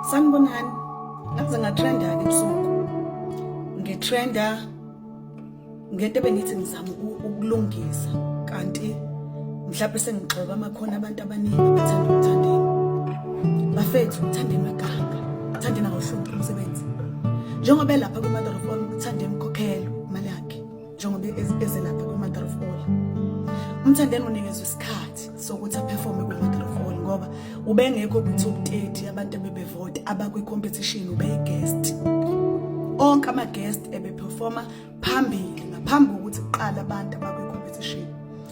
sanibonani ngaze ngatrenda-ke ebusuku ngitrenda ngento ebengithi ngizama ukulungisa kanti mhlawumbe sengigxoba amakhona abantu abaningi abathanda ukuthandeni bafethu uthanda emaganga uthanda nawohlupha umsebenzi njengoba elapha kuma-mother of all uthanda emkhokhelo njengoba e-, ezelapha kwi-mother of all umthandeni unikezwe isikhathi sokuthi aperforme kwi-mother of all ngoba ubengekho kwi-top 30 abantu ebebevota abakwi-competition ubeyigest onke ama-guest ebeperforma phambili ngaphambi kokuthi kuqala abantu abakwi-competition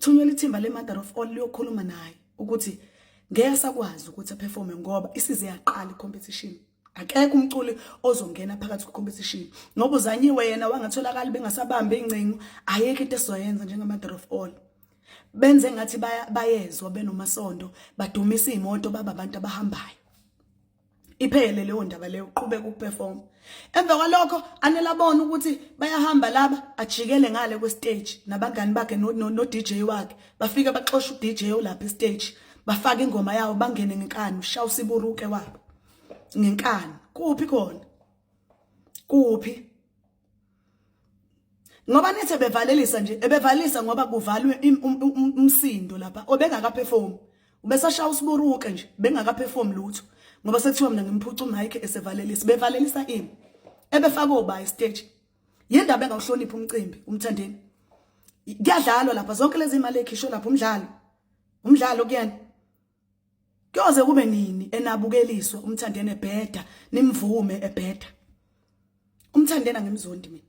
Thunyela ithimba le-mother of all liyokhuluma naye ukuthi ngeke asakwazi ukuthi aperforme ngoba isize yaqala i-competition akekho umculi ozongena phakathi kwe-competition ngoba uzanyiwe yena wangatholakali bengasabambi iy'ncingo ayekho into esizoyenza njenge-mother of all benze ngathi bayezwa benomasondo badumisa iy'moto baba abantu abahambayo iphele leyo ndaba leyo uqhubeka ukuperform emva kwalokho anelabona ukuthi bayahamba laba ajikele ngale kwestage nabangani bakhe no, no, no DJ wakhe bafike baxosha uDJ olapha estage bafaka ingoma yawo bangene ngenkani ushawa usiburuke wabo ngenkani kuphi khona kuphi ngoba nithi ebevalelisa nje ebevalisa ngoba kuvalwe um, um, um, umsindo lapha obengakaperform ubesashaya usiburuke nje bengakaperform lutho ngoba sekuthiwa mina ngimphuca umayike esevalelisa bevalelisa ini ebefaka obayi stage yindaba engawuhloniphi umcimbi umthandeni kuyadlalwa lapha zonke lezi imali ekhishwe lapha umdlalo umdlalo kuyena Kuyoze kube nini enabukeliswa umthandeni ebheda nimvume ebheda. Umthandeni angimzondi mina.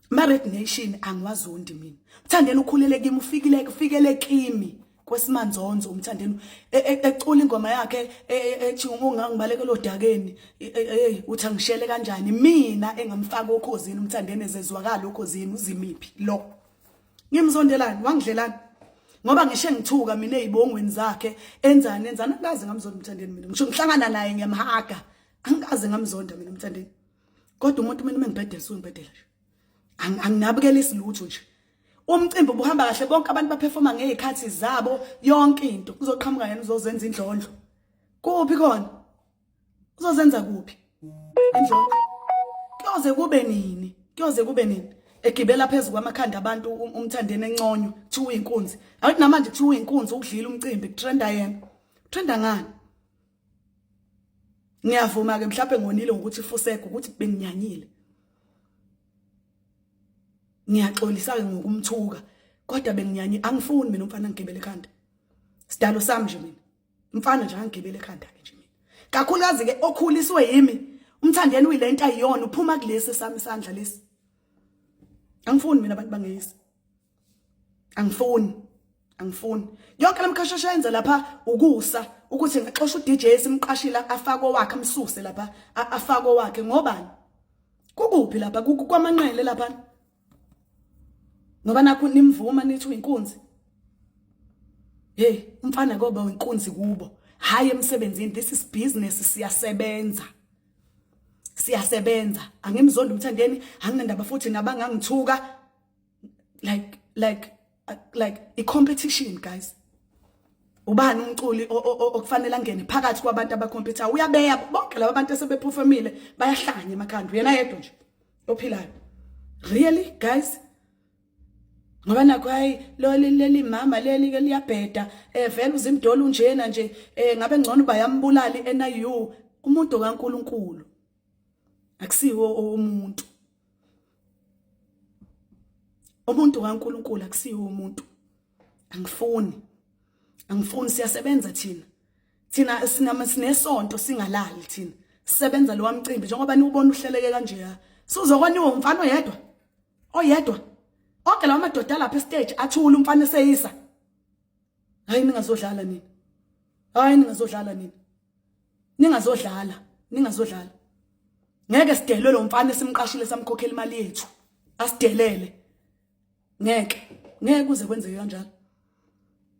Ma Red Nation angiwazondi mina. Umthandeni ukhulele kimi ufikile kufikele kimi kwesimanzonzo umthandeni e, e, ecula ingoma yakhe e, ethi ungangibaleke lodakeni hey uthi angishele kanjani mina engamfaka okhozini umthandeni ezezwakala okhozini uzimiphi lo ngimzondelani wangidlelani ngoba ngishe ngithuka mina ezibongweni zakhe enzani enzani angazi ngamzonda umthandeni mina ngisho ngihlangana naye ngiyamhaga angazi ngamzonda mina umthandeni kodwa umuntu mina mengibhedela sungibhedela nje anginabukelisi lutho nje umcimbi ubuhamba kahle bonke abantu baperforma ngezikhathi zabo yonke into kuzoqhamuka yena uzozenza indlondlo kuphi khona uzozenza kuphi indlovu kuyoze kube nini kuyoze kube nini egibela phezulu kwamakhanda abantu um-, umthandeni enconywa kuthiwa uyinkunzi awuthi namanje kuthiwa uyinkunzi ukudlila umcimbi kutrenda yena utrenda ngani ngiyavuma ke mhlawumbe ngonile ngokuthi fusego ukuthi benginyanyile ngiyaxolisa ke ngokumthuka kodwa benginyanye angifuni mina umfana ngigibele ekhanda sidalo sami nje mina mfana nje angigibele ekhanda ke nje mina kakhulukazi ke okhuliswe yimi umthandeni uyilento ayiyona uphuma kulesi sami isandla lesi angifuni mina abantu bangeyisi angifuni angifuni yonke lamkhashasha yenza lapha ukusa ukuthi ngixosha uDJ simqashila afake wakhe amsuse lapha afake wakhe ngobani kukuphi lapha kwamanqele lapha ngoba nakho nimvuma nithi uyinkunzi hey umfana koba uyinkunzi kubo hayi emsebenzini this is business siyasebenza siyasebenza angimzondi umthandeni anginandaba futhi nabangangithuka like like like i competition guys ubani umculi okufanele angene phakathi kwabantu abakhompetha uyabeya bonke laba bantu esebephufemile bayahlanya emakhanda uyena yedwa nje ophilayo really guys ngoba nakho hayi leli leli mama leli ke liyabheda eh vele uzimdolo unjena nje eh ngabe ngcono bayambulali NIU umuntu kaNkuluNkulu akusiwo umuntu umuntu kaNkulunkulu akusiwo umuntu angifuni angifuni siyasebenza thina thina sinama sinesonto singalali thina sisebenza lo wamcimbi njengoba niwubona uhleleke kanje ya sizokoniwe umfana oyedwa oyedwa onke lawa madoda lapha estage athula umfana eseyisa hayi ningazodlala nini hayi ningazodlala nini ningazodlala ningazodlala ngeke sidelwe lo mfana esimqashile samkhokhela imali yethu asidelele ngeke ngeke kuze kwenzeke kanjalo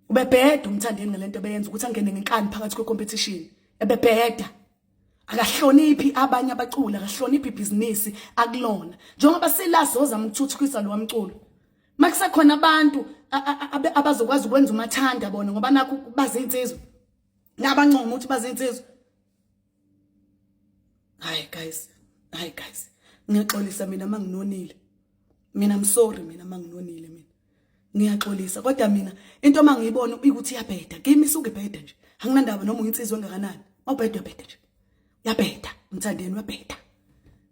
ubebheda umthandeni ngalento beyenza ukuthi angene ngenkani phakathi kwe competition ebebheda akahloniphi abanye abaculi akahloniphi ibhizinisi akulona njengoba selazoza mthuthukisa lo wamculo makusekhona abantu abazokwazi ukwenza umathanda bona ngoba nakho bazinsizwa nabancoma ukuthi bazinsizwa hayi guys hayi guys ngiyaxolisa mina manginonile mina I'm sorry mina manginonile mina ngiyaxolisa kodwa mina into mangiyibona ukuthi iyabheda kimi isukubheda nje anginandaba noma uyinsizwa engakanani awubheda uyabheda nje uyabheda mthandeni uyabheda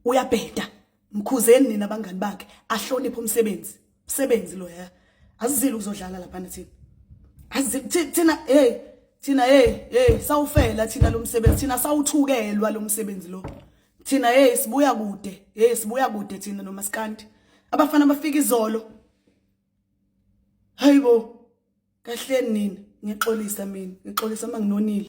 uyabheda mkhuzeni nina abangani bakhe ahloniphe umsebenzi msebenzi lo ya azizile ukuzodlala laphana thina azizile thina hey thina hey hey sawufela thina lo msebenzi thina sawuthukelwa lo msebenzi lo thina hey sibuya kude hey sibuya kude thina nomaskandi abafana bafika izolo hayibo kahleni nini ngixolisa mina ngixolisa manginonile